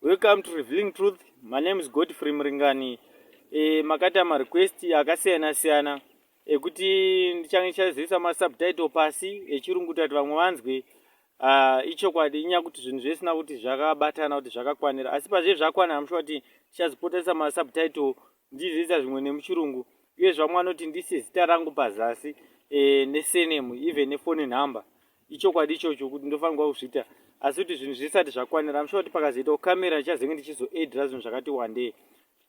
Welcome to Revealing Truth. My name is Godfrey Mringani. E, makaita ma request akasiyana siyana ekuti ndichange ndichazoisa ma subtitle pasi echirungu kuti vamwe vanzwe uh, ichokwadi inyaya kuti zvinhu zvesina kuti zvakabatana kuti zvakakwanira asi pazve zvakwana amushuwa kuti ndichazopotesa ma subtitle ndizoisa zvimwe nemuchirungu uye zvamwe anoti ndise zita rangu pazasi e, nesenemu even nefoni number ichokwadi ichocho kuti ndofanirwa kuzviita asi kuti zvinhu zvisati zvakwanira amushuwa kuti pakazoitawo kamera ndichazenge ndichizoedra zvinhu zvakati wandei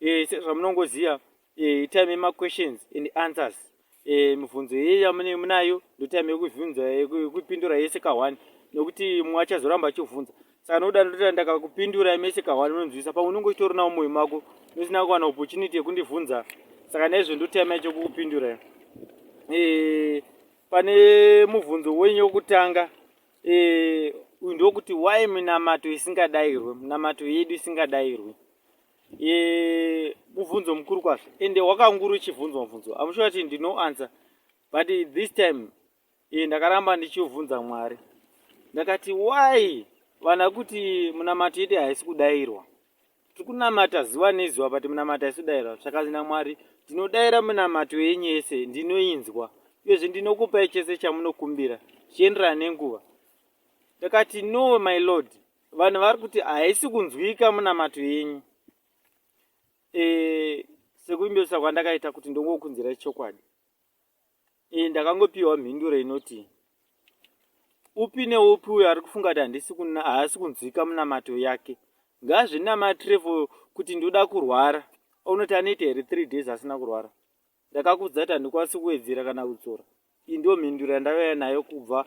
e, sezvamunongoziva e, eh, time yemaquestions and answers e, mibvunzo yeye yamunenge munayo ndotime yekuvhunza yekupindura yese kahwani nokuti mumwe achazoramba achivhunza saka nokuda ndotira ndakakupindura mese kahwani unonzwisa pamwe unenge uchitoronawo mwoyo mako ndosina kuwana opportunity yekundivhunza saka naizvo ndotime chekukupindura e, Pane mubvunzo wenyu wokutanga e, uyu ndokuti why minamato isingadairwe minamato yedu isingadairwe e, mubvunzo mukuru kwazvo ende wakanguru uchibvunzwa mubvunzo amushuwa kuti ndino answer but this time e, ndakaramba ndichiubvunza mwari ndakati why vana kuti minamato yedu haisi kudairwa tiri kunamata zuva nezuva but munamata isu daira zvakanzi namwari ndinodaira munamato yenyu yese ndinoinzwa uyezve ndinokupai chese chamunokumbira zvichienderana nenguva ndakati no my lord vanhu vari kuti haisi kunzwika munamato yenyu e, sekuimbirisa kwandakaita kuti ndongokunzirai chokwadi Ee, ndakangopiwa mhinduro inoti upi neupi uyo ari kufunga kuti handisi haasi kunzwika munamato yake ngazvinamatire for kuti ndoda kurwara unoti anoita here three days asina kurwara ndakakudza kuti handikwanisi kuwedzera kana kudzora iyi ndiyo mhinduro yandavaya nayo kubva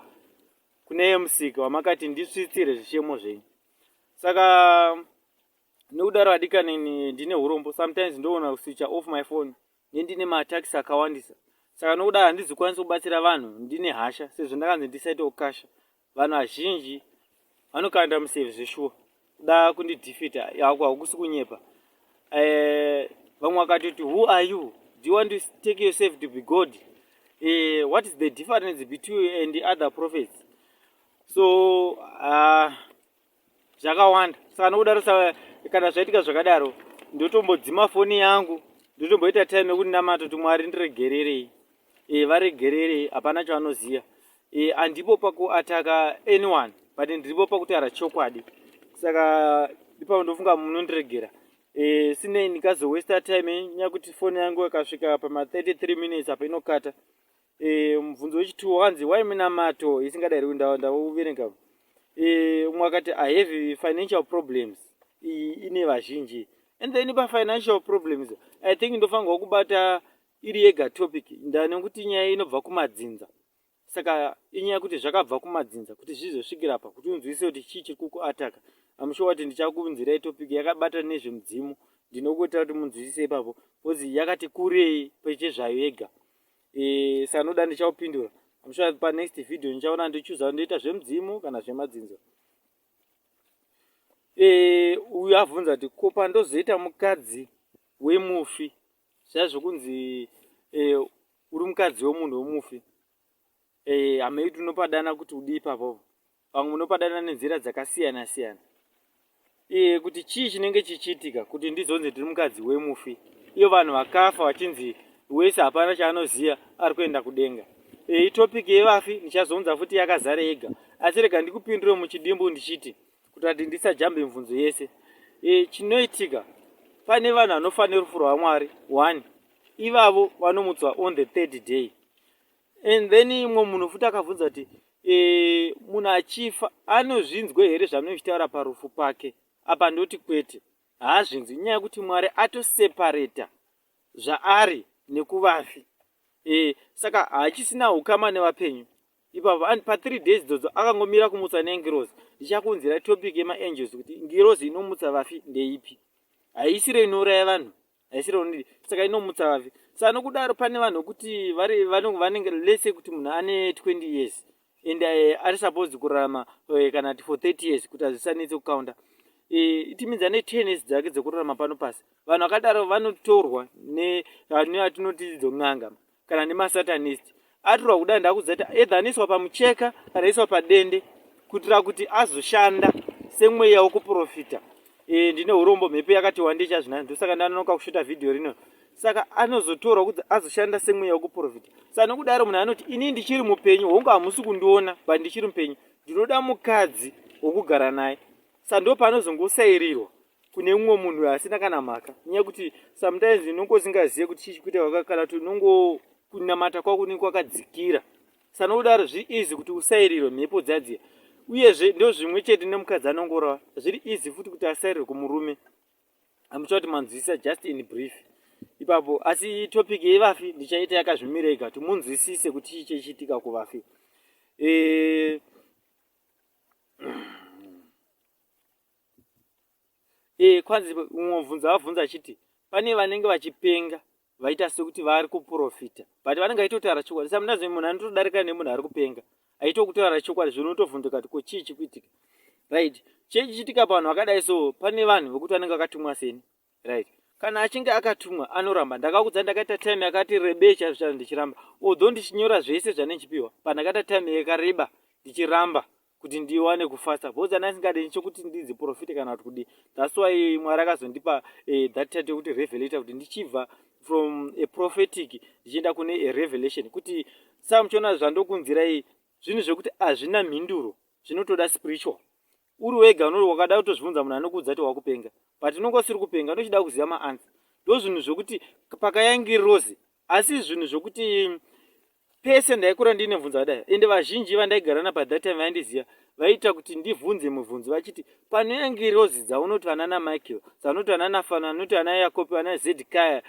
kune yemusika wamakati ndisvitsire zvichemo zvenyu saka nekudaro adikanini ndine urombo sometimes ndoona kuswicha off my phone nendine matax akawandisa saka nokudaro handizikwanisi kubatsira vanhu ndine hasha sezvo ndakanzi ndisaite ukasha vanhu vazhinji vanokanda museve zveshuwa kuda kundidefita yako hakusi kunyepa eh, vamwe vakatoti who are you do you want to take yourself to be god uh, what is the difference between you and other prophets so uh, zvakawanda saka nokudaro sa kana zvaitika zvakadaro ndotombodzima foni yangu ndotomboita time yekuti namato kuti mwari ndiregererei e, varegererei hapana chavanoziva e, andipo pakuataka anyone but ndiripo pakutaura chokwadi saka ipapo ndofunga munondiregera e, sinei ndikazowesta time nyakuti foni yangu yakasvika pama 33 minutes apa inokata e, mubvunzo wechituwo wakanzi why minamato isingadairwi ndauverenga e, umwe akati i have financial problems iyi ine vazhinji and then pafinancial problems i think ndofanirwa kubata iri yega topic ndanekuti nyaya inobva kumadzinza saka inyaya yekuti zvakabva kumadzinza kuti zvizosvikira pa kuti unzwise kuti chii chiri kukuataka amushuwa wati ndichakunzirai topic yakabata nezvemudzimu ndinokuitira kuti munzwisise ipapo bcause yakati kurei pechezvayo yega e, sanoda ndichaupindura I'm sure pa next video ndichaona ndichuza ndoita zvemudzimu kana zvemadzinzo e, uyu avhunza kuti ko pandozoita mukadzi wemufi zviya zvekunzi e, uri mukadzi wemunhu wemufi e, hamei tinopadana kuti udii papopo Pamwe munopadanana nenzira dzakasiyana siyana. Iye kuti chii chinenge chichiitika kuti ndizonzi ndiri mukadzi wemufi. Iyo vanhu vakafa vachinzi wese hapana chaanoziva ari kuenda kudenga. E, itopic yevafi ndichazounza futi yakazara yega. Asi rega ndikupindure muchidimbu ndichiti kuti ati ndisajambe mvunzo yese. E, chinoitika pane vanhu vanofa nerufu rwaMwari one ivavo vanomutswa on the third day and then imwe munhu futi akabvunza kuti e, munhu achifa anozvinzwe here zvaanochitaura parufu pake apa ndoti kwete haazvinzwi inyaya yekuti mwari atosepareta zvaari nekuvafi e, saka haachisina ukama nevapenyu ipapo and pa three days dzodzo akangomira kumutsa nengirozi ndichakunzira topic yemaangels kuti ngirozi inomutsa vafi ndeipi haisiro inouraya vanhu haisi lonely saka inomutsa vafi sa nokudaro pane vanhu vekuti vanenge lese kuti munhu ane 20 years and eh, ari supposed kurarama eh, kana ti for 30 years kuti hazvisanetse kukaunda eh, it means ane 10 years dzake dzekurarama pano pasi vanhu vakadaro vanotorwa neatinoti dzon'anga kana nemasatanist atirwa kudai ndakuzati edha anoiswa pamucheka kana aiswa padende kuitira kuti azoshanda semweya wokuprofita e, ndine urombo mhepo yakati wande chazvinani ndosaka ndanonoka kushuta vhidhiyo rino saka anozotorwa kuti azoshanda semweya wokuprofita sa nokudaro munhu anoti ini ndichiri mupenyu hongu hamusi kundiona but ndichiri mupenyu ndinoda mukadzi wokugara naye sa ndo paanozongosairirwa kune umwe munhu asina kana mhaka nyaya kuti sometimes unonge usingazive kuti chii chikuita waka kana kuti unongo kunamata kwako unenge kwakadzikira sana kudaro zviri easy kuti usairirwe mhepo dzadziya uyezve ndo zvimwe chete nemukadzi anongorova zviri easy futi kuti asairirwe kumurume amutsva kuti manzwisisa just in brief ipapo asi topic yevafi ndichaita yakazvimira ega kuti munzwisise kuti chii chechiitika kuvafi e... e, kwanzi umwe mubvunzo avabvunza achiti pane vanenge vachipenga vaita sekuti vari kuprofita but vanenge vaitotaura chokwadi sometimes munhu anotodarika nemunhu ari kupenga aitokutaura chokwadi zvino utovhunduka kuti ko chii chikuitika right chii chichitika pavanhu vakadai so pane vanhu vekuti vanenge vakatumwa seni right kana achinge akatumwa anoramba ndakakudza ndakaita time yakati rebei chaizvo chaizvo ndichiramba although ndichinyora zvese zvane ndichipiwa but ndakaita time yakareba ndichiramba kuti ndiwane kufasta bcause ana isingade ndichokuti ndinzi profite kana kuti kudii thats why mwari akazondipa eh, that title yokuti revelator kuti ndichibva from a prophetic ndichienda kune a revelation kuti saa muchiona zvandokunzirai zvinhu zvekuti hazvina mhinduro zvinotoda spiritual uri wega unoti wakada kutozvibvunza munhu anokuudza kuti wakupenga but unonge usiri kupenga unochida kuziva maansa ndozvinhu zvokuti pakayangi rose asi zvinhu zvokuti pese ndaikura ndiine mvunzo adai ende vazhinji vandaigarana pathat time vaindiziva vaiita kuti ndivhunze muvhunzi vachiti panoyangi rose dzaunoti vana namichael dzaunoti vana nafano anoti ana yakopi vana zedikaya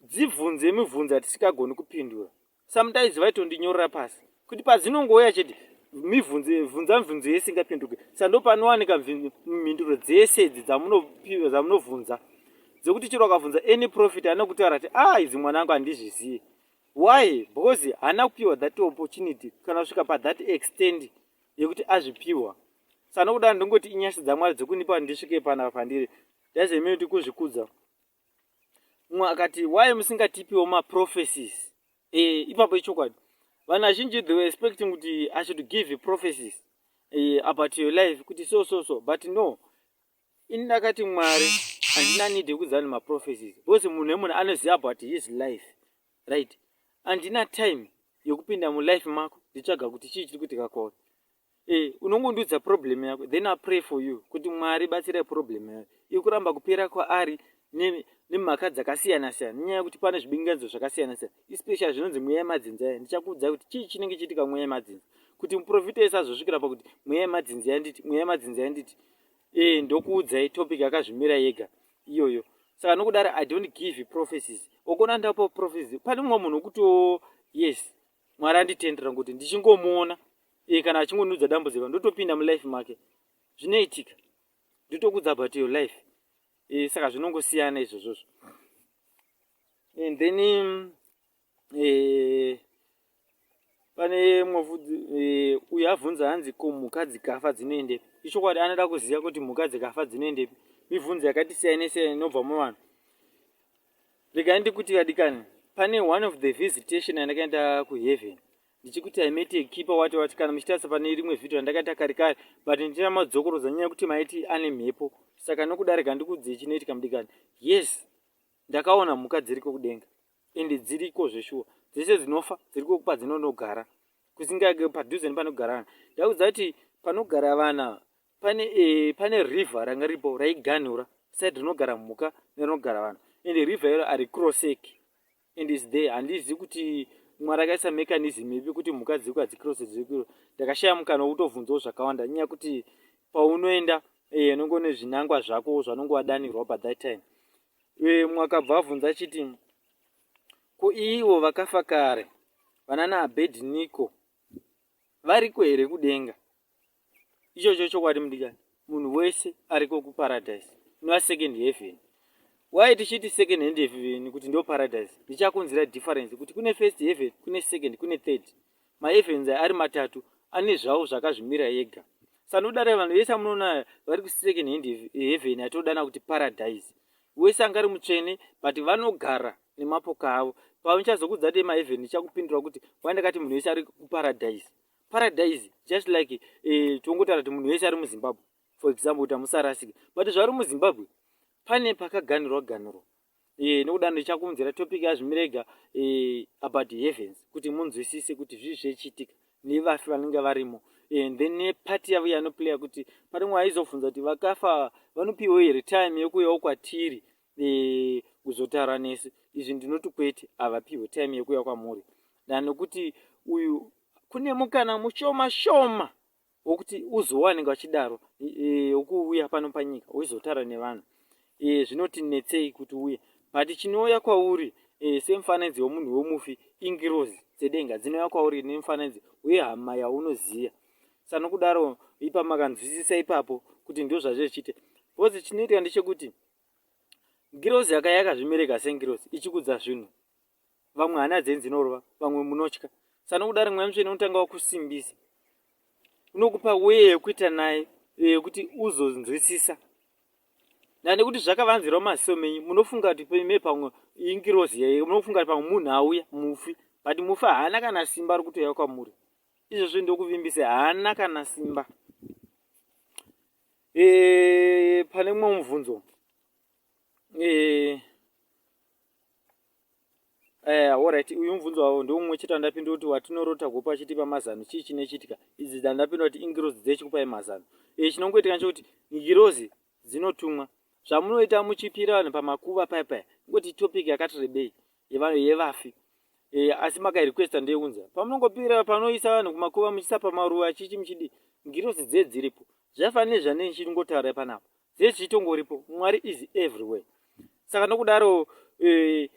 dzivhunze mivhunzi hatisikagoni kupindura sometimes vaitondinyorera pasi kuti padzinongouya chete mivhunze vhunza mivhunzo yese ingapinduke saka ndopanowanika mhinduro dzese idzi dzamunopiwa dzamunovhunza dzekuti chero akavhunza any profit haana kutaura ti a ah, idzi mwana angu handizvizivi why because haana kupiwa that opportunity kana kusvika pathat extend yekuti azvipiwa saka nokuda ndingoti inyasha dzamwari dzekundipa ndisvike panapa pandiri daizemeoti kuzvikudza mumwe akati why musingatipiwo maprophecies e, ipapo ichokwadi vanhu vazhinji they were expecting kuti i should give prophecies e, about your life kuti so so so but no ini ndakati mwari handina need yekuudza vanhu maprophecies because munhu wemunhu anoziva about his life right handina time yekupinda mulife mako nditsvaga kuti chii chiri kuitika kwauri Eh, unongondiudza problem yako then i pray for you kuti mwari batsira problem yayo iri kuramba kupera kwaari nemhaka dzakasiyana siyana nenyaya yekuti pane zvibinganidzo zvakasiyana siyana especially zvinonzi mweya yemadzinza ya ndichakuudza kuti chii chinenge chiitika mweya yemadzinza kuti muprofita ese azosvikira pakuti mweya yemadzinza yanditi mweya yemadzinza yanditi ee eh, ndokuudzai topic akazvimira yega iyoyo saka nokudaro i don't give prophecies okona ndapo prophecies pane mumwe munhu wekuti o yes mwari anditendera ngokuti ndichingomuona iye kana achingonudza dambudziko ndotopinda mulife make zvinoitika ndotokudza about your life e, saka zvinongosiyana izvozvozvo and then um, e, pane mwavudzi e, uyo avhunza hanzi ko mhuka dzikafa dzinoendepi ichokwadi anoda kuziva kuti mhuka dzikafa dzinoendepi mibvunzo yakati siyanei siyanei inobva muvanhu regai ndikuti vadikani pane one of the visitation yandakaenda kuheaven ndichikuti i mete keeper wati wati kana muchitarisa pane rimwe vhidhio randakaita kari kari but ndichita madzokorodza nyaya yekuti maiti ane mhepo saka nokudarika ndikuudzei chinoitika mudikani yes ndakaona mhuka dziriko kudenga ende dziriko zveshuwa dzese dzinofa dziriko kupa dzinonogara kusingake padhuze nepanogara vanhu ndakuudza kuti panogara vana pane eh, pane river ranga ripo raiganhura side rinogara mhuka nerinogara vanhu and river iro ari crossek and is there handizi kuti mwari akaisa mechanism ipi kuti mhuka dziko hadzicross dzikiro ndakashaya mukana wekutobvunzawo zvakawanda nyaya kuti paunoenda eh, unenge une zvinangwa zvako zvanonge wadanirwa by that time eh, mwakabva abvunza achiti ko ivo vakafa kare vanana abedniko variko here kudenga ichocho chokwadi mudikani munhu wese ariko kuparadise inova second heaven why tichiti second hand heaven kuti ndo paradise ndichakunzira difference kuti kune first heaven kune second kune third maevens ari matatu ane zvavo zvakazvimira ega sanodare vanhu vese amunoona vari kusecond hand heaven atodana kuti paradise wese anga ari mutsvene but vanogara nemapoka avo pauchazokudza demaevhen ndichakupindura kuti wandakati munhu wese ari kuparadise paradise just like eh, tongotaura kuti munhu wese ari muzimbabwe for example kuti hamusarasike but zvari muzimbabwe pane pakaganirwa ganirwa eh, nekuda ndichakuunzira topic yazvimirega eh, about heavens kuti munzwisise kuti zvii zvechiitika nevafi vanenge varimo and then nepati yavo yanoplaya kuti parimwe aizofunza kuti vakafa vanopiwa here time yekuyawo kwatiri eh, kuzotaura nesu izvi ndinoti kwete havapihwe time yekuuya kwamuri dan nokuti uyu kune mukana mushoma shoma wokuti uzowanenge vachidaro eh, wokuuya e, pano panyika woizotaura nevanhu e, zvinotinetsei kuti uye but chinouya kwauri e, semufananidzo wemunhu wemufi ingirozi dzedenga dzinouya kwauri nemufananidzo wehama yaunoziva sanokudaro ipamakanzwisisa ipapo kuti ndozvazve zvichiita bcause chinoitika ndechekuti ngirozi yakaya yakazvimereka sengirozi ichikudza zvinhu vamwe hana dzenyu dzinorova vamwe munotya sanokudari mweya mutsvene unotanga wakusimbisa unokupa weye yekuita naye yekuti uzonzwisisa ndaa nekuti zvakavanzirwa maziso menyu munofunga kuti peme pamwe ingirozi yaye munofunga kuti pamwe munhu auya mufi but mufi haana kana simba ari kutoya kwamuri izvozvo ndokuvimbisa haana kana simba e, pane mumwe mubvunzo e, Eh, alright uyu mubvunzo wavo ndoumwe chete wandapindura kuti watinorota gopa achitipa mazano chii chinechitika idzi dzandapindura kuti ingirozi dzechikupai mazano e, chinongoitika nechekuti ngirozi dzinotumwa zvamunoita muchipira vanhu pamakuva paya paya ngoti topic yakati rebei yevafi e, asi makairequesta ndeiunza pamunongopira panoisa vanhu kumakuva muchisapa maruva chichi muchidi ngirosi dze dziripo zvaifanira nezvane ndichingotaurai panapa zese zvichitongoripo mwari is everywhere saka nokudaro e,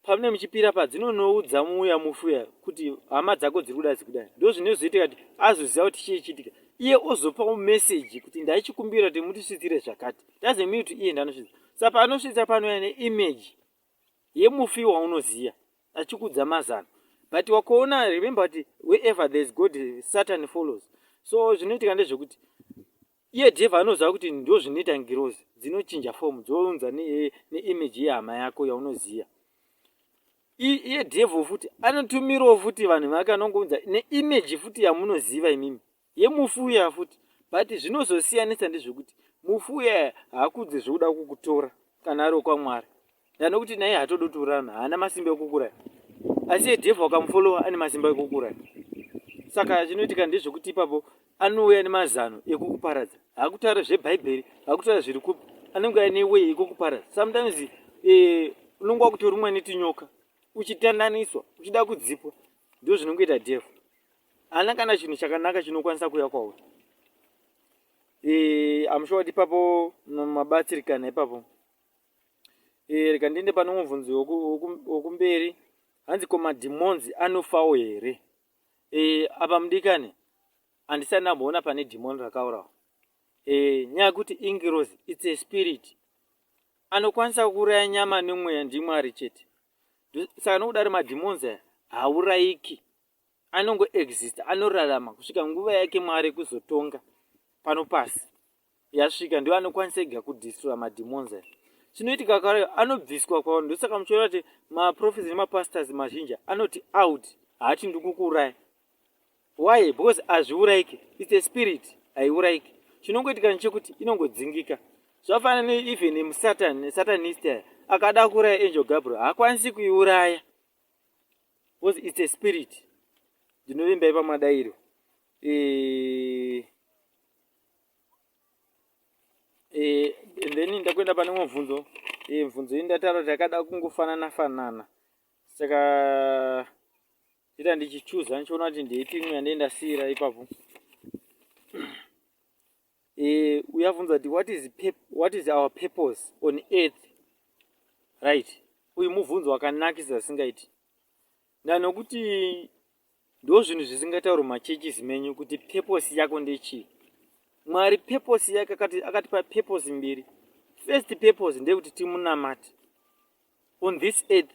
pamune muchipira padzinonoudza muuya mufuya kuti hama dzako dziri kuda dzikudai ndo zvinozoitika kuti azoziva kuti chii chiitika iye ozopawo meseji kuti ndaichikumbira kuti mutisvitsire zvakati doesn't mean kuti iye ndanosvitsa saka paanosvitsa panouya neimage yemufi waunoziya achikudza mazano but wakoona remember kuti wherever there is god satan follows so zvinoitika ndezvekuti iye devha anoziva kuti ndo zvinoita ngirozi dzinochinja fomu dzounza neimage ne yehama yako yaunoziva iye devha futi anotumirawo futi vanhu vake anongounza neimage futi yamunoziva imimi yemufi uya futi but zvinozosiyanisa ndezvekuti mufi uya haakudze zvekuda kukutora kana ari wekwamwari dano kuti naye hatode kuti urarame haana masimba ekukuraya asi edhevha wakamufolowa ane masimba ekukuraya saka zvinoitika ndezvekuti ipapo anouya nemazano ekukuparadza hakutaura zvebhaibheri hakutaura zviri kupi anenge aine wei ekukuparadza sometimes eh, unenge wakutorumwa netinyoka uchitananiswa uchida kudzipwa ndozvinongoita dhevha haana kana chinhu chakanaka chinokwanisa kuya kwauri e, amusho wati ipapo mabatsirikana ipapo e, reka ndiende pane mubvunzi wokumberi hanzi ko madhimonzi anofawo here e, apa mudikani handisati ndamboona pane dhimoni rakaurawa e, nyaya yekuti ingirozi its a spirit anokwanisa kuuraya nyama nemweya ndimwari chete saka nokudari madhimonzi aya haurayiki anongo exista anorarama kusvika nguva yake mwari kuzotonga pano pasi yasvika ndiwo anokwanisa ega kudistroya mademons aya chinoitika kare anobviswa kwavanhu ndosaka muchiona kuti maprofes nemapastors mazhinji anoti out haati ndikukuuraya why because hazviuraike its a spirit haiuraike chinongoitika nechekuti inongodzingika zvafanana neeven musatan nesatanist aya akada kuuraya angel gabriel haakwanisi kuiuraya because it's a spirit ndinovimba ipa madairo eh, eh, and then ndakuenda pane umwe bvunzo eh, bvunzo iyi ndataura kuti yakada kungofanana fanana saka ita ndichichuza ndichiona kuti ndeiti imwe yandee ndasiyira ipapo eh, uyavunza kuti what is, what is our purpose on earth right uyu mubvunzo wakanakisa singaiti ndanokuti ndo zvinhu zvisingatauri machurches menyu kuti purpose yako ndechii mwari purpose yake akatipa purpose mbiri first purpose ndeyekuti timunamate on this earth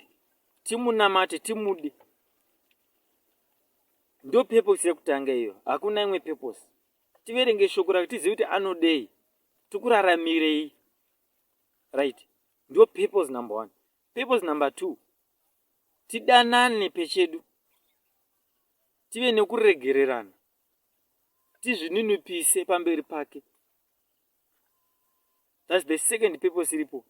timunamate timude ndo purpose yekutanga iyo hakuna imwe purpose tiverenge shoko rake tizive kuti anodei tikuraramirei right ndo purpose number one purpose number two tidanane pechedu tive nekuregererana tizvininipise pamberi pake thats the second purpose iripo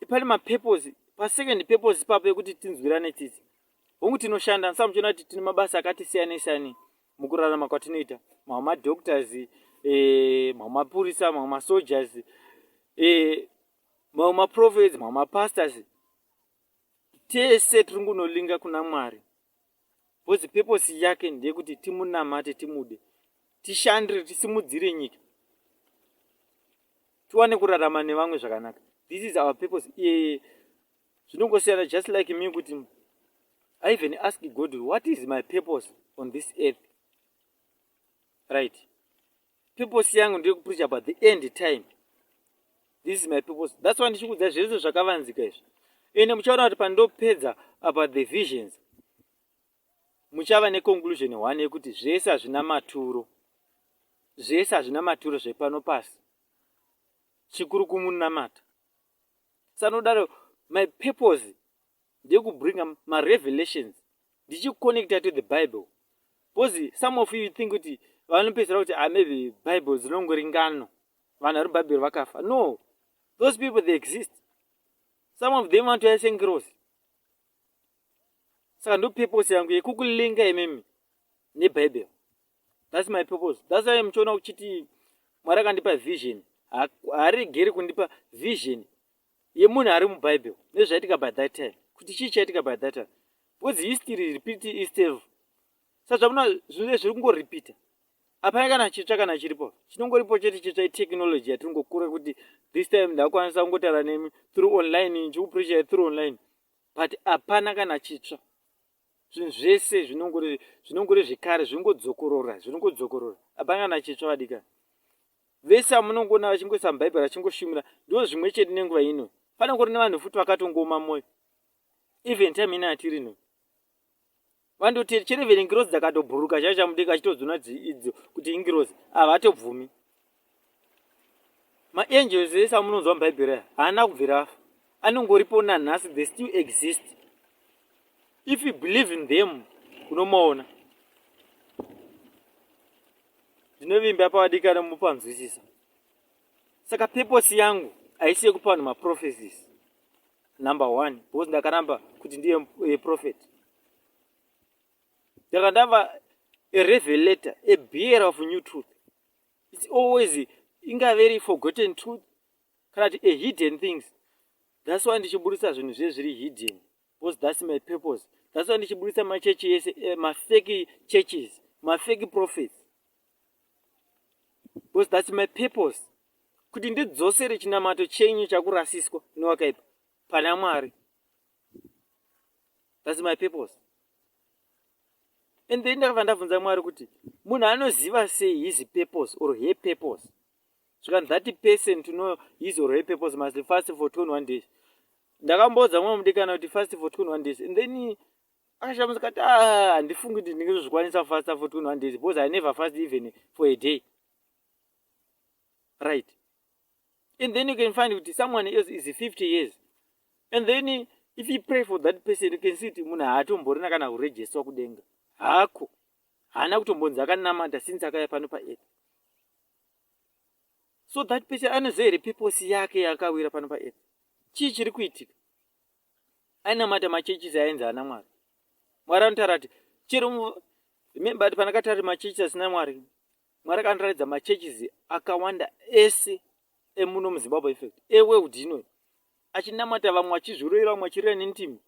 pane mapurpose pasecond purpose ipapo yekuti tinzwirane tsitsi hongu tinoshanda ndisa muchiona kuti tine mabasa akati siyanei siyanei mukurarama kwatinoita mamwe madoctors eh, mamwe mapurisa mamwe masoldiers eh, mamwe maprophets mamwe mapastors tese tiri ngunolinga kuna mwari bcause peposi yake ndeyekuti timunamate timude tishandire tisimudzire nyika tiwane kurarama nevamwe zvakanaka this is our purpose iye zvinongosiyana just like me kuti i even ask god what is my purpose on this earth right purpose yangu ndiri kupreach about the end time this is my purpose thats why ndichikuudza zvese zvakavanzika izvi ende muchaona kuti pandopedza about the visions muchava neconclusion one yekuti zvese hazvina maturo zvese hazvina maturo zvepano pasi chikuru kumunamata sanodaro my purpose ndekubringa marevelations ndichiconnecta to the bible bcause some of you think kuti vanopedzisira kuti ah, maybe bible dzinongori ngano vanhu vari bhaibheri vakafa no those people they exist some of them vantu yaisengirosi saka ndopurpose yangu yekukulinga imimi nebhaibheri thats my purpose thats why muchiona kuchiti mwari akandipa vision haaregeri kundipa vision yemunhu ari mubible nezvaitika by that time kuti chii chaitika by that time because history repeat istev sazvamuna zvinhu zviri kungoripita apana kana chitsva kana chiripo chinongoripo chete chitsva itechnology yatiri ngokura kuti this time ndakwanisa kungotaura nemi through online ndichikupressure through online but apana kana chitsva zvinhu zvese zvinongori zvinongori zvekare zvingodzokorora zvinongodzokorora hapana kana chitsva vadikani vese amunongoona vachingoisa mubhaibheri vachingoshumira ndo zvimwe chete nenguva ino pane kuri nevanhu futi vakatongooma mwoyo even time ino yatiri no vandoti chero even ngirozi dzakatobhuruka chaivo chamudenga achitodzona idzo kuti ingirozi havatobvumi maangels ese amunonzwa mubhaibheri aya haana kubvira afa anongoripo nanhasi they still exist if you believe in them unomaona ndinovimba pavadikana mupanzwisisa saka peposi yangu haisi yekupa vanhu maprophecies number one because ndakaramba kuti ndiye eh, prophet ndakandava a revelator a bearer of new truth its always ingave iri forgotten truth kana kuti a hidden things thats why ndichiburitsa zvinhu zviye zviri hidden because thats my purpose thats why ndichiburitsa machechi yese eh, mafeki churches mafeki prophets because thats my purpose kuti ndidzosere chinamato chenyu chakurasiswa newakaipa pana mwari thats my purpose and then ndakabva ndabvunza mwari kuti munhu anoziva sei his purpose or her purpose zvikanzi that person to know his or her purpose must fast for 21 days ndakamboudza mwe mudikana kuti fast for 21 days and then akashamusa kati ah, handifungi kuti ndingezozvikwanisa fasta for 21 days because i never fast even for a day right and then you can find kuti someone else is 50 years and then if you pray for that person you can see kuti munhu haatomborina kana kuregisterwa kudenga hako haana kutombonzi akanamata since akaya pano paearth so that person anoziva here peposi yake yaakawira pano paearth chii chiri kuitika ainamata machechis ainzi ana mwari mwari anotaura kuti chero remember kuti panakatari machechis asina mwari Mwari akandiratidza machurches akawanda ese emuno muzimbabwe effect eworld inoyi achinamata vamwe achizviroira vamwe achirira nentimo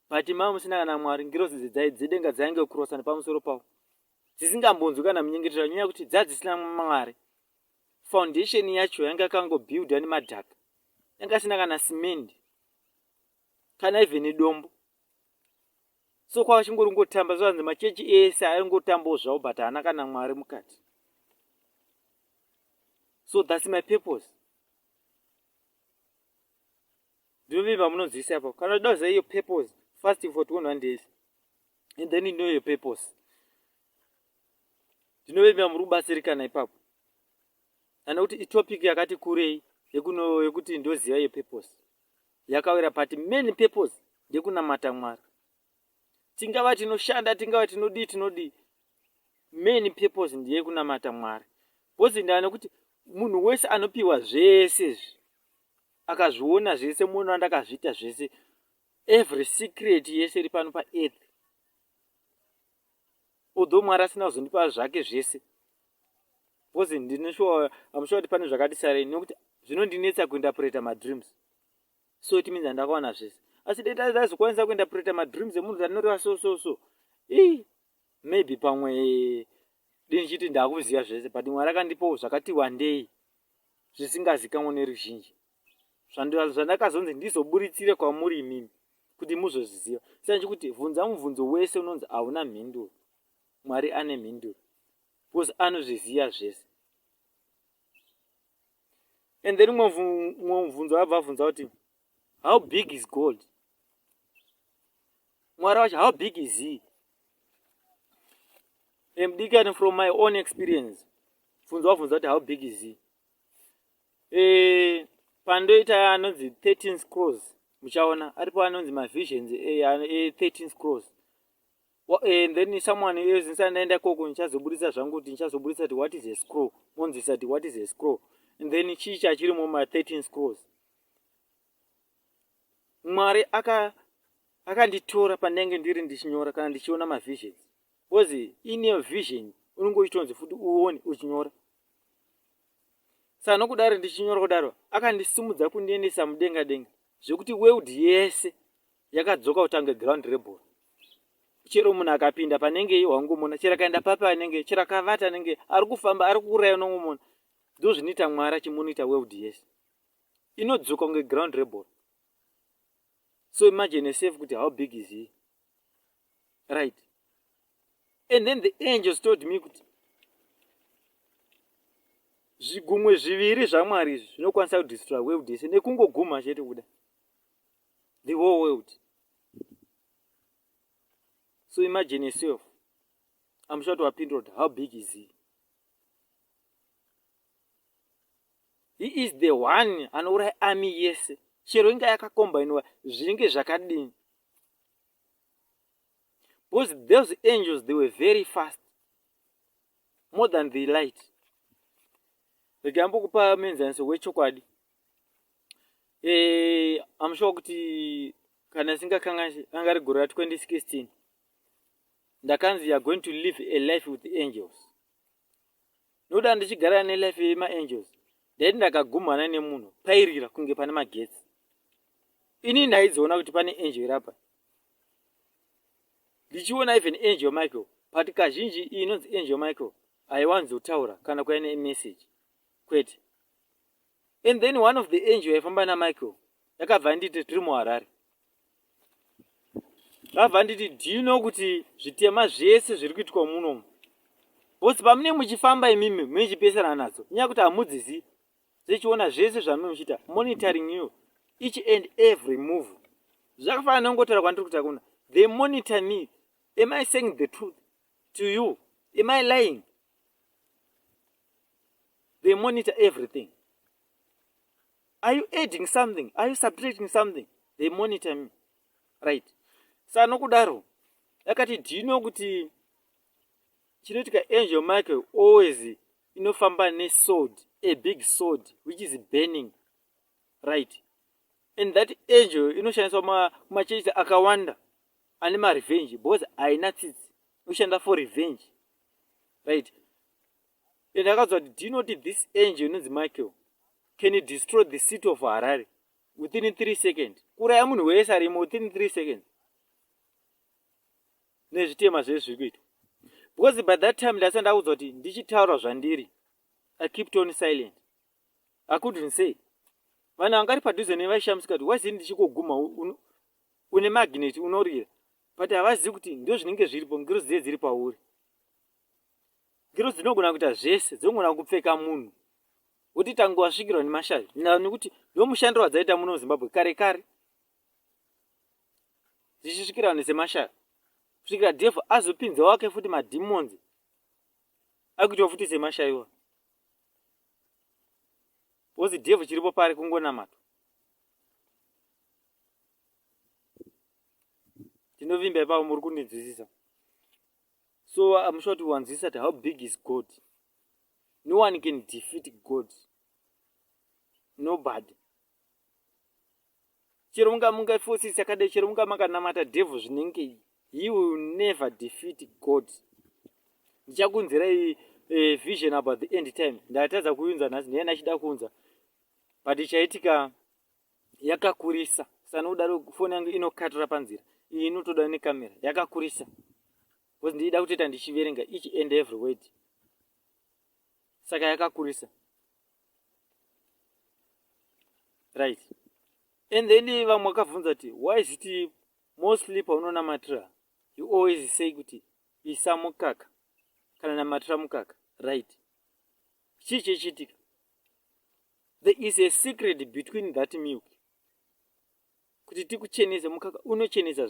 but mava musina kana mwari ngirozi dzidzai dzedenga dzainge kurosa nepamusoro pavo dzisingambonzwi kana munyengetero anyanya kuti dzadzisina mwari foundation yacho yanga yakangobuilda nemadhaka yanga asina kana simendi kana even dombo so kwava chingori ngotamba zvanzi machechi ese aingotambawo zvavo but haana kana mwari mukati so thats my purpose ndinovimba munonzwisa apo kana uchida kuziva iyo purpose first for two hundred days and then ino iyo purpose ndinovimba muri kubatsirikana ipapo kana kuti itopic yakati kurei yekuti ndoziva iyo purpose yakawira pati main purpose ndekunamata mwari tingava tinoshanda tingava tinodii tinodii main purpose ndiye kunamata mwari bcozi ndava nekuti munhu wese anopiwa zvese izvi akazviona zvese munhu andakazviita zvese every secret yese iri pano paearth although mwari asina kuzondipa zvake zvese because ndinoshuwa amushuwa kuti pane zvakati sarei nekuti zvinondinetsa kuinterpreta madreams so it means andakawana zvese asi dai ndazokwanisa kuinterpreta madreams emunhu andinoreva so so so ii maybe pamwe dei ndichiti ndakuziva zvese but mwari akandipawo zvakati wandei zvisingazikamwe neruzhinji zvandakazonzi ndizoburitsire kwamuri imimi kuti muzozviziva saka chekuti vhunza mubvunzo wese unonzi hauna mhinduro mwari ane mhinduro bcause anozviziva zvese and then umwe mubvunzo vabva vabvunza kuti how big is gold mwari wacho how big is he emdikani from my own experience bvunzo wabvunza kuti how big is he e, pandoita anonzi 13 scrolls muchaona aripo anonzi mavisions e, e, 13 scrolls and then someone else ndisandaenda koko ndichazoburitsa zvangu kuti ndichazoburitsa kuti what is a scroll monzisa kuti what is a scroll and then chii chachirimo ma 13 scrolls mwari akanditora aka pandenge ndiri ndichinyora kana ndichiona mavisions because in your vision unenge uchitonzi futi uone uchinyora saka nokudaro ndichinyora kudaro akandisimudza kundiendesa mudenga denga zvekuti world yese yakadzoka kutange ground reball chero munhu akapinda panenge wangomona chero akaenda papi anenge chero akavata anenge ari kufamba ari kuuraya unongomona ndo zvinoita mwari achimonita world yese inodzoka kunge ground reball so imagine yourself kuti how big is he right and then the angels told me kuti zvigumwe zviviri zvamwari izvi zvinokwanisa kudestroya world yese nekungoguma chete kuda the whole world so imagine yourself amusha kuti wapindura kuti how big is he he is the one anouraya ami yese chero inga yakakombainiwa zvinge zvakadini because those angels they were very fast more than the light regambokupa muenzaniso wechokwadi e, eh, amushuwa kuti kana singakanganisi anga ri gore ra 2016 ndakanzi youare going to live a life with angels ndoda ndichigarira nelife yemaangels ndaiti ndakagumhana nemunhu pairira kunge pane magetsi ini ndaidziona kuti pane angel irapa ndichiona even angel michael but kazhinji iyi inonzi angel michael haiwanzotaura kana kuya nemeseji kwete and then one of the angel yaifamba namichael yakabva yanditi tiri muharare vabva nditi do you know kuti zvitema zvese zviri kuitwa munomu bcause pamune muchifamba imimi muichipesana nadzo kunyaya kuti hamudzizi zvechiona zvese zvamume muchiita monitoring you each and every move zvakafanana nongotaura kwandiri kuti akuna they monitor me am i saying the truth to you am i lying they monitor everything are you adding something are you subtracting something they monitor me right sa nokudaro yakati do you know kuti chinoitika angel michael always inofamba nesword a big sword which is burning right and that angel inoshandiswa kumachechi akawanda ane marevenge because haina tsitsi inoshanda for revenge right and akazwa kuti do you not this angel inonzi michael can you destroy the city of harare within three second kuraya munhu wese arimo within three seconds nezvitema zvee zviri kuitwa because by that time ndasa ndakuzwa kuti ndichitaura zvandiri i kept on silent i couldn't say vanhu vangari padhuze nevaishamisika kuti wazii ndichikoguma une magnet unorira but havazivi kuti ndo zvinenge zviripo ngirozi dziye dziri pauri ngirozi dzinogona kuita zvese dzinogona kupfeka munhu woti tange wasvikirwa nemashavi nekuti ndomushando wadzaita muno muzimbabwe kare kare dzichisvikira vanhu semashavi kusvikira devho azopinza wake futi mademons akuitwa futi semashaiwa wozi devho chiripo pari kungonamata ndinovimba ipapo muri kundinzwisisa so i'm sure to wanzwisisa how big is god no one can defeat god nobody chero munga mungafosisi akadai chero munga makanamata devil zvinenge he will never defeat god ndichakunzirai e, vision about the end time ndatadza kuiunza nhasi ndiye ndachida kuunza but ichaitika yakakurisa sana kudaro foni yangu inokatira panzira iyi inotoda nekamera yakakurisa bcause ndiida kutoita ndichiverenga each and every word saka yakakurisa right and then vamwe vakabvunza kuti why is it mostly paunonamatira you always say kuti isa mukaka kana namatira mukaka right chii chechiitika there is a secret between that milk kuti tikuchenese mukaka unochenesa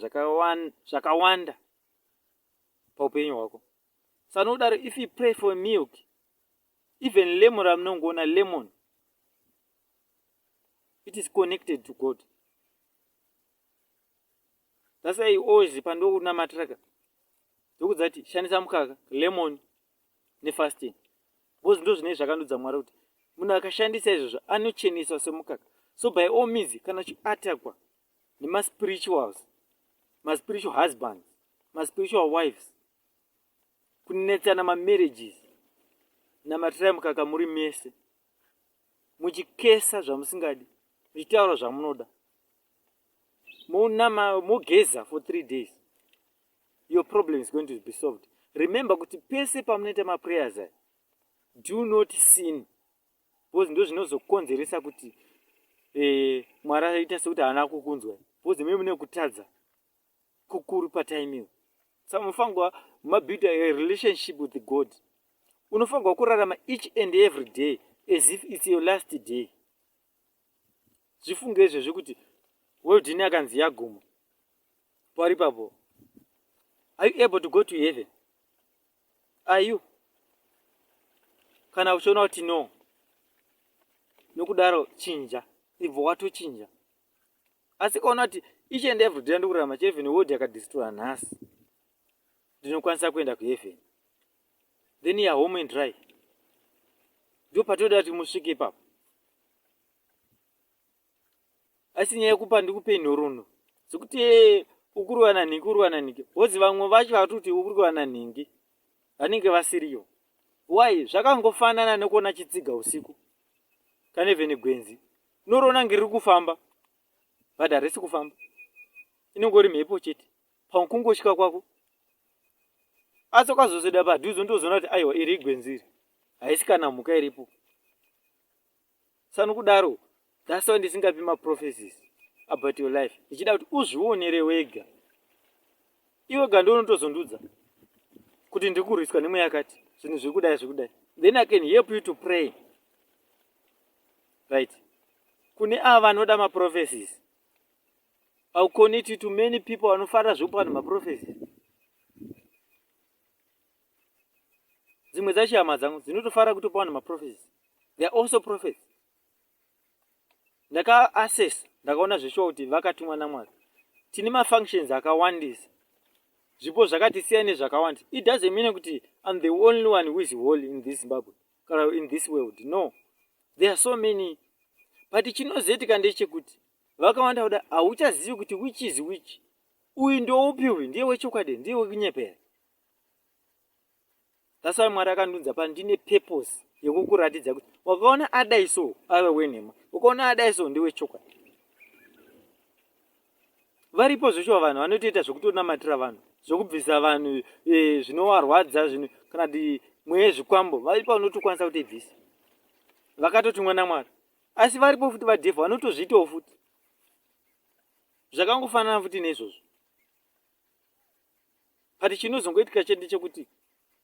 zvakawanda paupenyu hwako sanodaro if you pray for milk even lemon ramunongoona lemon it is connected to god thats why always pandokuna matraka ndokudza ti shandisa mukaka lemon nefasting because ndo zvinei zvakandudza mwari kuti munhu akashandisa izvozvo anocheneswa semukaka so by all means kana uchiatakwa nemaspirituals maspiritual husbands maspiritual wives kunetsana mamarriages namatirai mukaka muri mese muchikesa zvamusingadi muchitaura zvamunoda monama mogeza for three days your problem is going to be solved remember kuti pese pamunoita maprayers aya do not sin bcause ndo zvinozokonzeresa kuti eh, mwari aita sekuti haana kukunzwa bcause mei mune kutadza kukuru pataimiwo sa munofanirwa mabuilda a relationship with god unofanirwa kurarama each and every day as if its your last day zvifunge izvezvi kuti weldin akanzi yaguma pari papo are you able to go to heaven are you kana uchiona kuti no nokudaro chinja ibva watochinja asi kaona kuti each and every day ndikurarama cheheaven world yakadestroya nhasi ndinokwanisa kuenda kuheaven then ya home and dry ndo patoda kuti musvike ipapo asi nyaya yekupa ndikupe nhorono dzekuti eh, ukuruwa nanhingi uruwa nanhingi wozi vamwe vacho vatoti ukuruwa nanhingi vanenge vasiriyo why zvakangofanana nekuona chitsiga usiku kana even gwenzi unoriona ngeriri kufamba but harisi kufamba inongori mhepo chete pakungosvika kwako asi ukazosvida padhuze undozoona kuti aiwa iri igwenzi iri haisi kana mhuka iripo sanokudaro that's why ndisingapi maprophecies about your life ndichida kuti uzvionere wega iwe ga ndo unotozondudza kuti ndiri kurwiswa nemwe yakati zvinhu zviri kudai zviri kudai then i can help you to pray right kune ava vanoda maprophecies I'll connect you to many people vanofarira zvekupa vanhu maprophecy. Dzimwe dzacho hama dzangu dzinotofarira kutopa vanhu maprophecy. They are also prophets. Ndaka assess ndakaona zveshuwa kuti vakatumwa naMwari. Tine mafunctions akawandisa. Zvipo zvakati siya nezvakawanda. It doesn't mean kuti I'm the only one who is holy in this Zimbabwe kana in this world. No. There are so many. But chinozoitika ndechekuti vakawanda kuda hauchazivi kuti which is which uyu ndoupi uyu ndiye wechokwadi ndiye wekunyepera that's why mwari akandiunza pano ndine purpose yekukuratidza kuti wakaona adai so ave wenhema ukaona adai so ndewechokwadi varipo zveshuwa vanhu vanotoita zvekutonamatira vanhu zvekubvisa vanhu eh, zvinovarwadza zvino kana kuti mweya zvikwambo varipo vanotokwanisa kutibvisa vakatotumwa namwari asi varipo futi vadhevha vanotozviitawo futi zvakangofanana futi neizvozvo but chinozongoitika chete chekuti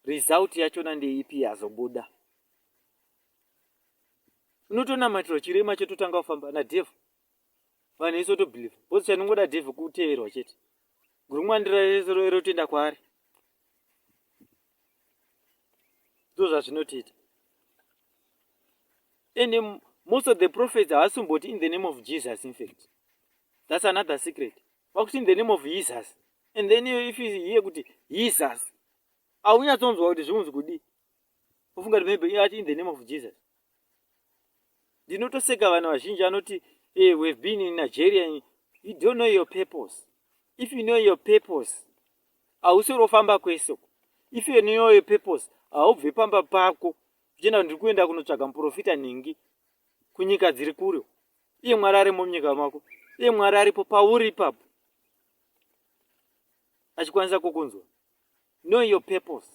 result yachona ndeipi yazobuda unotonamatirwa chirema chototanga kufamba nadhevha vanhu isotobiliva bcause chanongoda dhevha kuteverwa chete Gurumwa ndirotenda kwaari ndo zvazvinotiita and most of the prophets havasimboti in the name of jesus in fact that's another secret vakuti in the name of jesus and then if here kuti jesus aunyatsonzwa kuti zviunzi kudii ofunga kuti maybe ati in the name of jesus ndinotoseka vanhu vazhinji anoti hey, eh, we've been in nigeria you don't know your purpose if you know your purpose hausori ofamba kwese uko if you know your purpose haubve pamba pako uchienda ndiri kuenda kunotsvaga muprofita nhingi kunyika dziri kure iye mwari arimo munyika mako iye mwari aripo pauri ipapo achikwanisa kukunzwa know your purpose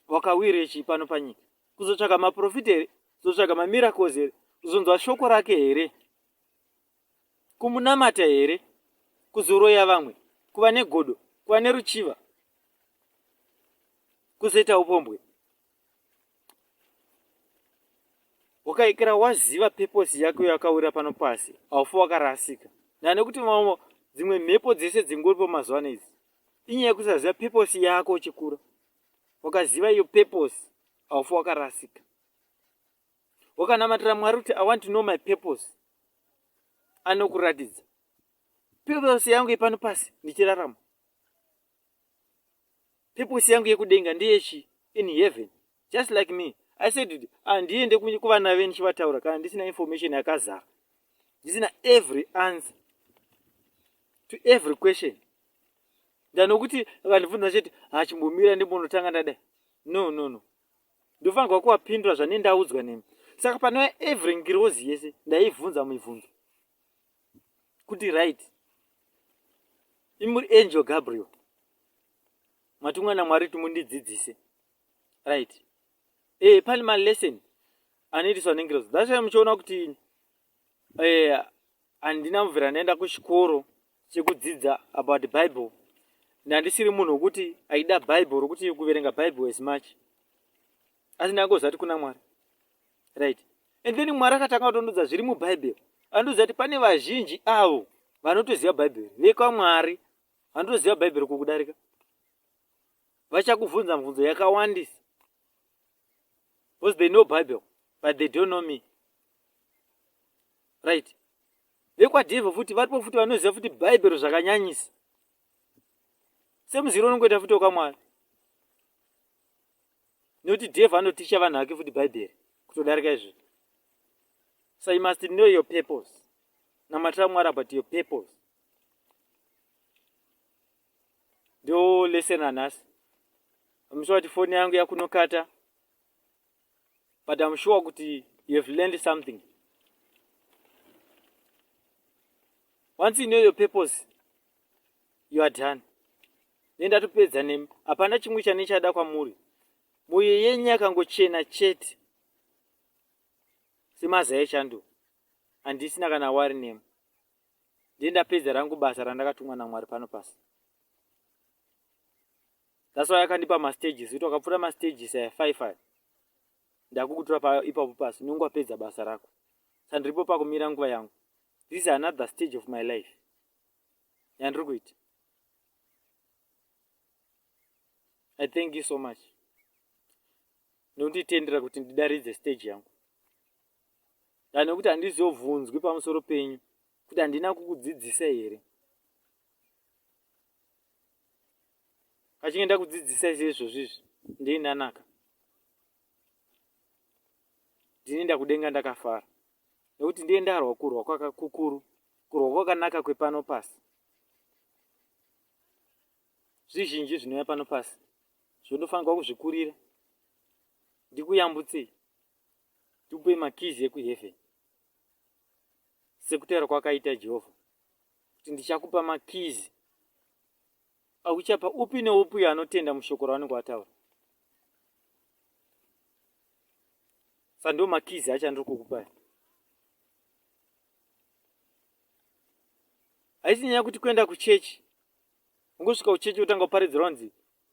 wakawire chii pano panyika kuzotsvaga maprofita here kuzotsvaga mamiracles here kuzonzwa shoko rake here kumunamata here kuzoroya vamwe kuva negodo kuva neruchiva kuzoita upombwe ukaikira waziva peposi yako yakawira pano pasi haufi wakarasika nane kuti vamwe dzimwe mhepo dzese dzingoripo mazuva ano idzi inyaya yekusaziva peposi yako uchikura wakaziva iyo peposi haufi wakarasika wakanamatira mwari kuti i want to know my peposi anokuratidza peposi yangu yepano pasi ndichirarama purpose yangu yekudenga ndeyechi in heaven just like me i said kuti handiende ah, kuvana ve ndichivataura kana ndisina information yakazara ndisina every answer to every question ndanokuti vandibvunza chete hachimbomira ah, ndimbonotanga ndadai no no no ndofanirwa kuvapindura zvane ndaudzwa nemi saka panova every ngirozi yese ndaivhunza mibvunzo kuti right imuri angel gabriel matumwa namwari kuti mundidzidzise right e pane malesson anoitiswa nengirozi thats why muchiona kuti e, handina e, mubvira ndaenda kuchikoro chekudzidza about the bible ndandisiri munhu wekuti aida bible rokuti kuverenga bible as much asi ndangoziva kuti kuna mwari right and then mwari akatanga kutondudza zviri mubhaibheri andiudza kuti pane vazhinji avo vanotoziva bhaibheri vekwamwari vanotoziva bhaibheri kukudarika vachakubvunza mubvunzo yakawandisa because they know bible but they don't know me right vekwadhevha futi varipo futi vanoziva futi bhaibheri zvakanyanyisa semuziro unongoita futi wakamwari nekuti devha anoticha vanhu vake futi bhaibheri kutodarika izvi so you must know your purpose namatira mwari about your purpose ndo lesson anhasi amushuwa kuti foni yangu yakunokata but amushuwa kuti you have learned something once you know your purpose you are done ne ndatopedza nemi hapana chimwe chane chada kwamuri moyo yenyu yakangochena chete semazai echando handisina kana wari nemu ndiye ndapedza rangu basa randakatumwa namwari pano pasi that's why akandipa mastages kuti wakapfuura mastages aya five aya ndakukutura paipapo pasi unenge wapedza basa rako sandiripo pakumira nguva yangu this is another stage of my life yandiri kuita i thank you so much nekunditendera kuti ndidaridze stage yangu dani nekuti handizobvunzwi pamusoro penyu kuti handina kukudzidzisa here kachinge ndakudzidzisa izvezvozvizvi ndeinanaka ndinoenda kudenga ndakafara nekuti ndiye ndarwa kurwa kwakakukuru kurwa kwakanaka kwepano pasi zvizhinji zvinouya pano pasi zvondofanirwa kuzvikurira ndikuyambutsei ndikupe makizi ekuheaven sekutaura kwakaita jehovha kuti ndichakupa makizi Akuchapa upi neupi uyo anotenda mushoko ravanenge vataura. Sa ndo makizi acho andiri kukupai. Haisi nyaya kuti kuenda kuchechi. Ungosvika kuchechi wotanga kuparidzirwa nzi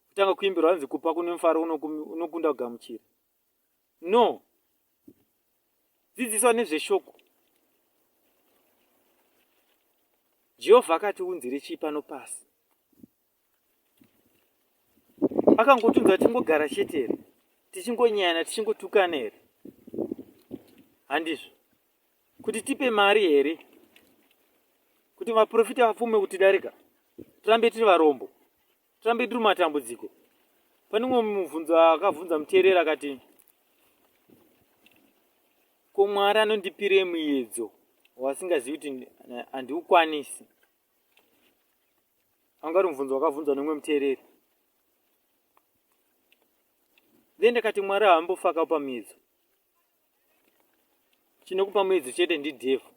kutanga kuimbirwa nzi kupa kune mufaro unokunda kugamuchira. no dzidziswa nezveshoko jehovha akati unzire chii pano pasi akangotunza tingogara chete here tichingonyana tichingotukana here handizvo kuti tipe mari here kuti vaprofita vapfume kutidarika tirambe tiri varombo tirambe tiri matambudziko pane umwe mubvunzo akabvunza muteereri akati ko mwari anondipire muyedzo wasingazivi kuti handiukwanisi anga uri mubvunzo wakabvunzwa neumwe muteereri then ndakati mwari haambofakawo pamuyedzo chinokupa muedzo chete ndidevhu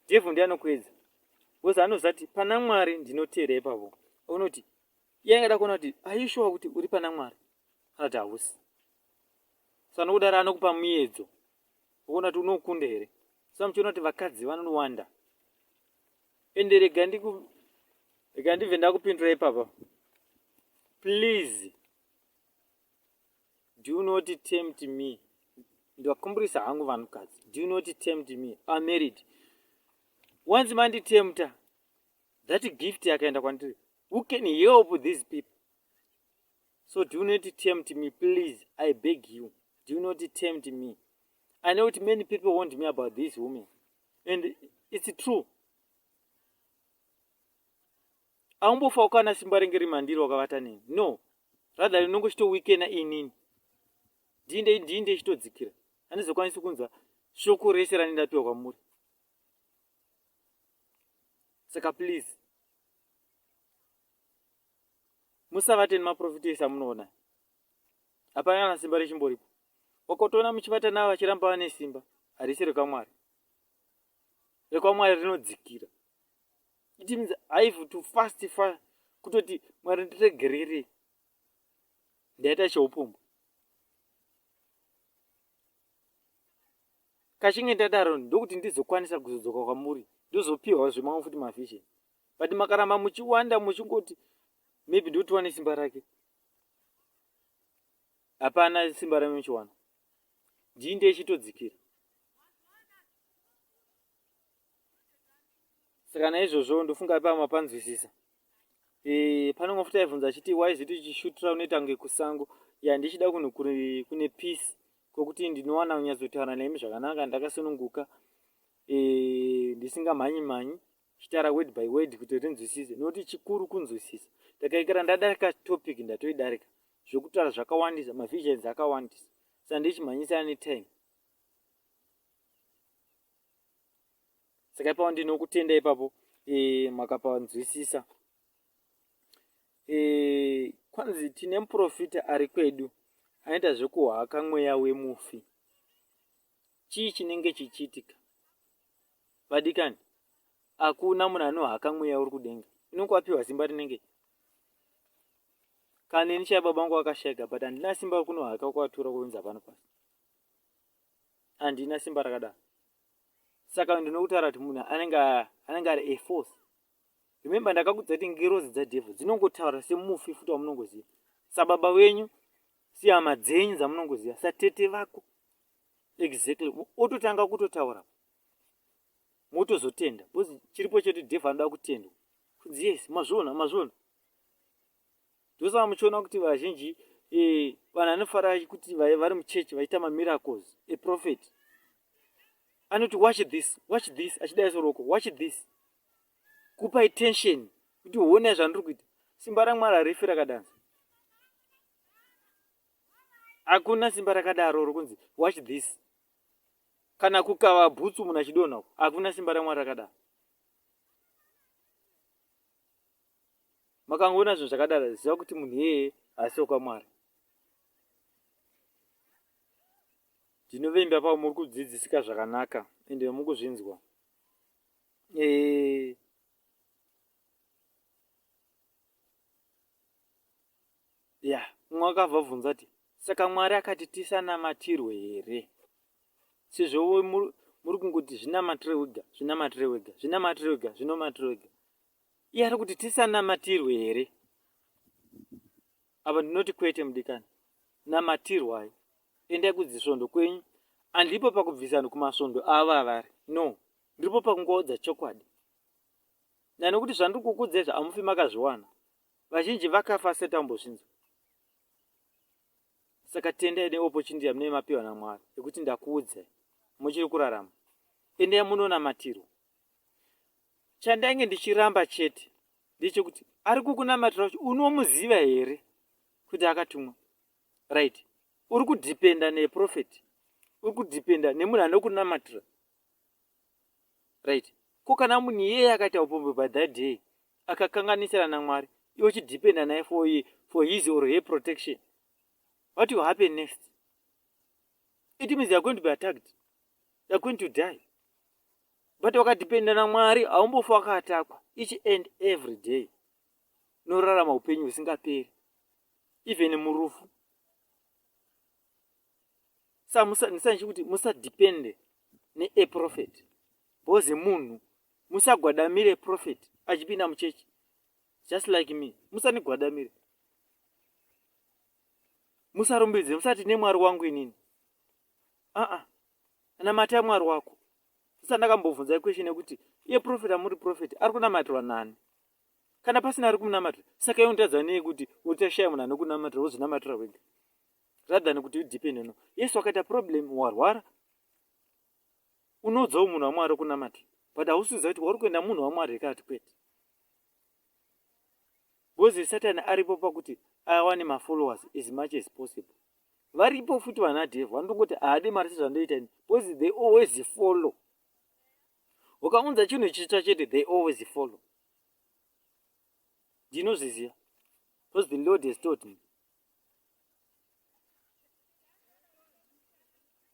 devhu ndiye anokuedza bcause anozati pana mwari ndinoteera ipavo unoti iye angada kuona kuti aishuwa kuti uri pana mwari kana kuti hausi so anokudaro anokupa muedzo ukuona kuti unokunda here sa muchiona kuti vakadzi vanowanda ende rega ndiku rega ndibve ndakupindura ipapa please do you not tempt me ndivakumburisa hangu vanhukadzi do you not tempt me a married once manditemta that gift yakaenda kwandiri who can help these people so do you not tempt me please i beg you do you not tempt me i know that many people want me about this woman and it's true Aumbofa ukana simba renge riri mandiri wakavata neni no rather rinongo chito weekena inini ndinde indinde ichitodzikira handizokwanisi kunzwa shoko rese rani ndapiwa kwamuri saka please musavate nemaprofita ese amunoona hapana kana simba rechimboripo wakotoona muchivata navo vachiramba vane simba harisi rekamwari rekwamwari rinodzikira it means i have to fast fa kutoti mwari ndiregerere ndaita cheupombwe kachinge ndadaro ndokuti ndizokwanisa kuzodzoka kwamuri ndozopiwa zvemamwe futi mavision but makaramba muchiwanda muchingoti maybe ndotiwane simba rake hapana simba rame muchiwana ndii ndechitodzikira saka naizvozvo ndofunga ipa mapanzwisisa e, eh, panonga futi aibvunza achiti why ziti chishutra unoita kunge kusango ya ndichida kunhu kune peace kwekuti ndinowana kunyatsotaura nemi zvakanaka ndakasununguka e, ndisingamhanyi mhanyi chitaura word by word kuti rinzwisise nokuti chikuru kunzwisisa ndakaikira ndadarika topic ndatoidarika zvekutaura zvakawandisa mavisions akawandisa sandichimhanyisa ane time saka ipapo ndinokutenda ipapo e, makapanzwisisa e, kwanzi tine muprofita ari kwedu anoita zvekuhaka mweya wemufi chii chinenge chichiitika vadikani hakuna munhu anohaka mweya uri kudenga inonge wapiwa zimba rinenge kana ini chai baba vangu vakashaika but handina simba rekunohaka kwatura kuunza pano pasi handina simba rakadaro saka ndinokutaura kuti munhu anenge anenge ari a force remember ndakakudza kuti ngirozi dzadhevho dzinongotaura semufi futi wamunongoziva sababa wenyu sihama dzenyu dzamunongoziva satete vako exactly ototanga kutotaura motozotenda bcause chiripo chete dhevho anoda kutendwa kunzi yes mazviona mazviona ndosaka muchiona kuti vazhinji eh, vanhu anofara kuti vari muchechi vachiita mamiracles eprofet anoti watch this watch this achidai soroko watch this kupa attention kuti uone zvandiri kuita simba ramwari harifi rakadanza hakuna simba rakadaro rokunzi watch this kana kukava bhutsu munhu achidonha hakuna simba ramwari rakadaro makangoona zvinhu zvakadaro ziva kuti munhu iyeye haasi wekwamwari ndinovimba pavo muri kudzidzisika zvakanaka ende muri kuzvinzwa eh, ya umwe akavabvunza ti saka mwari akati tisanamatirwe here sezvo muri kungoti zvinamatire wega zvinamatire wega zvinamatire wega zvinomatire wega Iye ari kuti tisanamatirwe here? Apa ndinoti kwete mudikani, namatirwai, endai kudzisvondo kwenyu. Andipo pakubvisa vanhu kumasvondo avo avari, no, ndiripo pakungoodza chokwadi. Nani kuti zvandiri kukudzai zvamufi makazviwana, vazhinji vakafa asati ambozvinzwa. Saka tendai neopportunity yamunei mapiwa naMwari yekuti ndakuudzai, muchiri kurarama, endai munonamatirwa. chandainge ndichiramba chete ndechekuti ari kukunamatira kuti unomuziva here kuti akatumwa right uri kudhipenda neprofet uri kudhipenda nemunhu anokunamatira right ko kana munhu iyeye akaita upombe by that day akakanganisira namwari iwe uchidhipenda naye for, for his or her protection what will happen next it means youare going to be attacked you're going to die but wakadhipenda namwari haumbofa wakatakwa each and every day unorarama upenyu husingaperi even murufu sa ndisandichi kuti musadhipende neeprofet bhozi munhu musagwadamire profet achipinda muchechi just like me musanigwadamire musarumbidze musati nemwari wangu inini aa namata mwari wako sisa ndakambobvunza iquestion yekuti iye profet amuri profet ari kunamatirwa nani kana pasina ari kunamatira saka iwe nditadza nei kuti utashaya munhu anokunamatira wozvinamatira wega rathan kuti udepende no yesu wakaita problem warwara unoudzawo munhu wamwari kunamata but hausiza kuti wari kuenda munhu wamwari hekati kwete bcoz satani aripo pakuti awane mafollowers as much as possible varipo futi vana dev vanotongoti haade mari sezvandoita ini bcause they always follow ukaunza chinhu chitsva chete they always follow ndinozviziva bcause the lord has taught me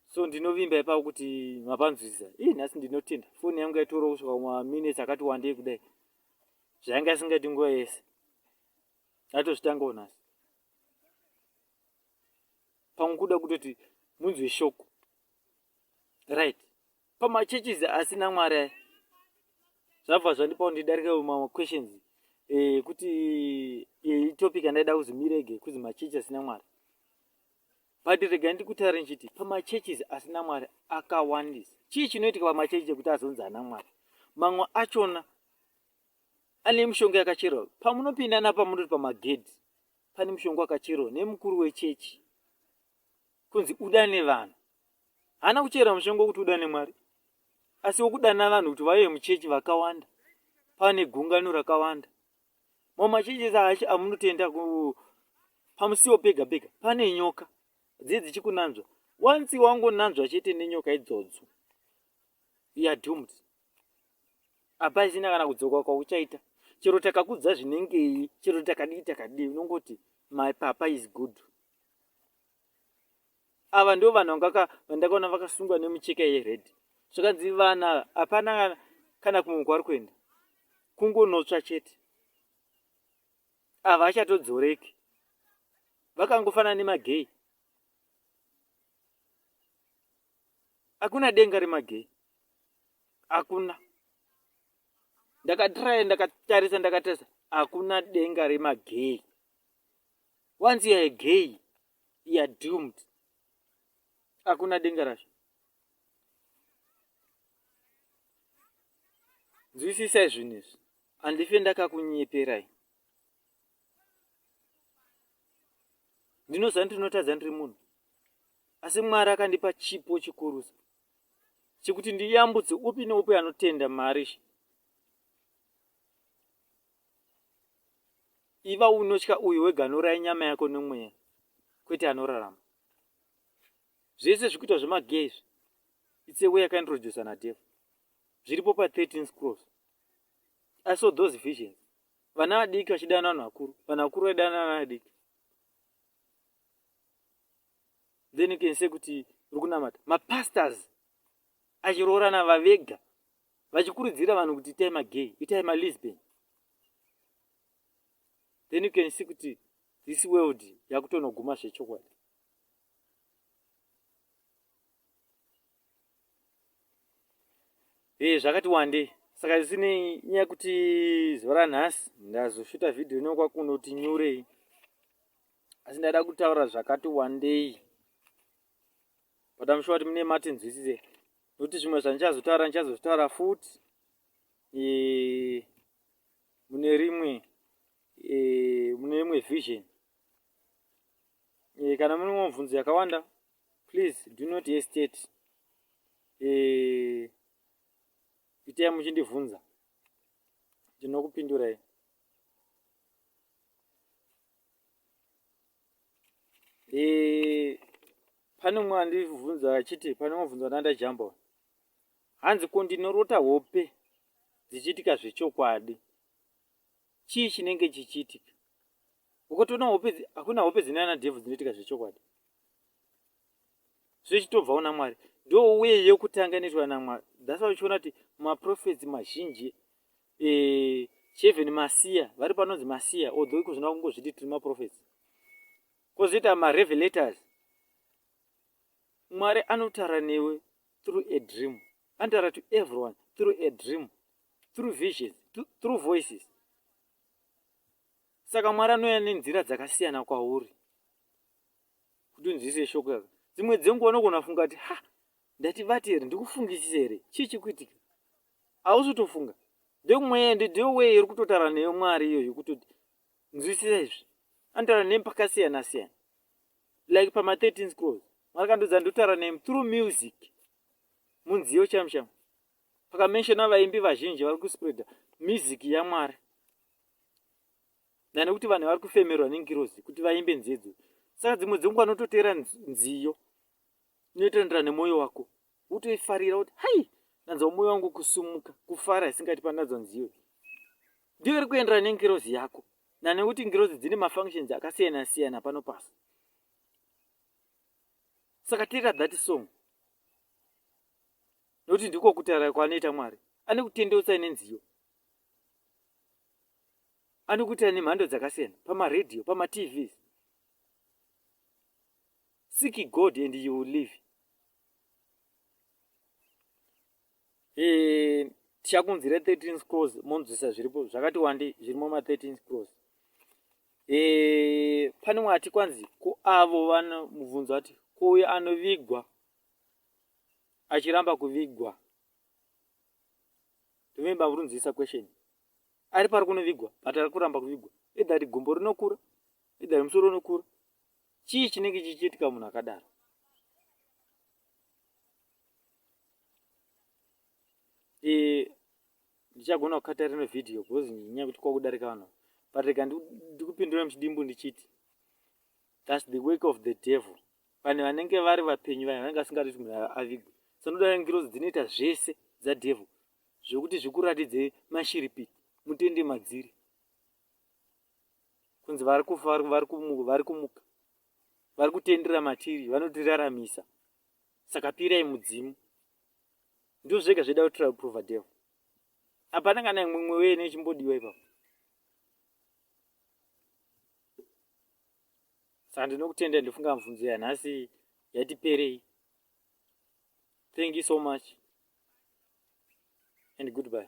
so ndinovimba ipapo kuti mapanzwisisa ii nhasi ndinotenda foni yangu yaitorawo kusvika kumaminutes akati wandei kudai zvainge asingaiti nguva yese atozvitangawo nhasi pamwe kuda kutoti munzwe shoko right pamachurches asina mwari aya zvabva zvandipa kuti ndidarike mamwe questions eh, kuti eh, itopic andaida kuzi mirege kuzi machechi asina mwari but rega ndikutaure ndichiti pamachurches asina mwari akawandisa chii chinoitika pamachechi chekuti azonzi ana mwari mamwe achona ane mishonga yakacherwa pamunopinda napamunoti pamagedhi pane mushonga wakacherwa nemukuru wechechi kunzi udane vanhu haana kuchera mushonga wokuti udane mwari asi wokudana vanhu kuti vauye muchechi vakawanda pane gungano rakawanda mamwe machechesi acho amunotenda pamusiwo pega pega pane nyoka dziye dzichikunanzva wansi wangonanzwa chete nenyoka idzodzo youare doomed hapasina kana kudzoka kwauchaita chero takakudza zvinengei chero takadii takadii unongoti my papa is good ava ndo vanhu vangaka vandakaona vakasungwa nemucheka yered zvakanzi vana hapana kana kumwe kwari kuenda kungonotsva chete ava achatodzoreki vakangofanana nemagei hakuna denga remagei hakuna ndakatiraya ndakatarisa ndakatarisa hakuna denga remagay once youare gay youare doomed hakuna denga racho nzwisisai zvinhu izvi handife ndakakunyeperai ndinoziva ndinotadza ndiri munhu asi mwari akandipa chipo chikurusa chekuti ndiyambutse upi neupi anotenda mari iva unotya uyu wega anouraya nyama yako nemweya kwete anorarama zvese zvikuitwa zvemagay izvi its a way yakaintroducer nadevo zviripo pa 13 scrolls i saw those visions vana vadiki vachidana vanhu vakuru vanhu vakuru vaidana vana vadiki then you can say kuti uri kunamata mapastors achiroorana vavega vachikurudzira vanhu kuti itai magay itai malisbon then you can see kuti this world yakutonoguma zvechokwadi e eh, zvakati wande saka zisine nyaya kuti zuva ranhasi ndazoshuta vhidhiyo inokwakuno kuti nyurei asi ndaida kutaura zvakati wandei but am sure kuti mune matinzwisise nokuti zvimwe zvandichazotaura ndichazozvitaura futi e, mune rimwe e, mune rimwe vision e, kana mune mubvunzo yakawanda please do not hesitate e, itai muchindibvunza ndinokupindurai Eh, pane umwe andibvunza achiti pane mubvunzo ndandajamba uyu hanzi ko ndinorota hope dzichiitika zvechokwadi chii chinenge chichiitika ukatoona hope hakuna hope dzine ana devhu dzinoitika zvechokwadi zvichitobvawo namwari ndo uye yekutanga inoitwa namwari thats why uchiona kuti maprofets mazhinji eh, cheven masiya vari panonzi masiya although iko zvinoda kungozviti tiri maprofets kozoita marevelators mwari anotaura newe through a dream anotaura to everyone through a dream through visions through voices saka mwari anouya nenzira dzakasiyana kwauri kuti unzwise shoko yaka dzimwe dzenguva unogona funga kuti ha ndati vati here ndikufungisisa here chii chikuitika hausi utofunga ndekumweya ndiyo wee iri kutotaura neyo mwari iyo yekutoti nzwisisa izvi anotaura nemi pakasiyana siyana like pama 13 scrolls mwari kandiudza ndotaura nemi through music munziyo chamshama pakamenshona vaimbi vazhinji vari kuspreada music yamwari nda nekuti vanhu vari kufemerwa nengirozi kuti vaimbe nzedzo saka dzimwe dzenguva anototeera nziyo inoitandirana nemwoyo wako wotoifarira kuti hai ndanzwa mwoyo wangu kusumuka kufara isingati pandanzwa nziyo ndiyo iri kuenderana nengirozi yako nanekuti ngirozi dzine mafunctions akasiyana siyana pano pasi saka teera that song nekuti ndiko kutaura kwanoita mwari ane kutendeutsai nenziyo anokuita nemhando dzakasiyana pamaradio pamatvs seek god and you will live eh, tichakunzira 13 scrolls monzwisa zviripo zvakati wandi zvirimo ma 13 scrolls eh, pane wati kwanzi ko avo vano mubvunzo ati ko uyo anovigwa achiramba kuvigwa remember vurunzisa question ari pari kunovigwa but ari kuramba kuvigwa either rigumbo rinokura either rimusoro unokura chii chinenge chichiitika munhu akadaro e, ndichagona kukata rino vhidhiyo bcause nyaya yekuti kwakudarika vanhu but rega ndikupindura muchidimbu ndichiti thats the work of the devil vanhu vanenge vari vapenyu vanhu vanenge vasingadi kuti munhu avigwe sanodara ngirozi dzinoita zvese dzadevil zvekuti zvikuratidze mashiripiti mutende madziri kunzi vari kufa vari kumuka vari kumuka vari kutendera matiri vanotiraramisa saka pirai mudzimu ndizvo zvega zvaida kutrial prova devo hapana kana imwe mwe wene ichimbodiwa ipapo saka ndinokutenda ndofunga mubvunzo yanhasi yatiperei thank you so much and goodbye.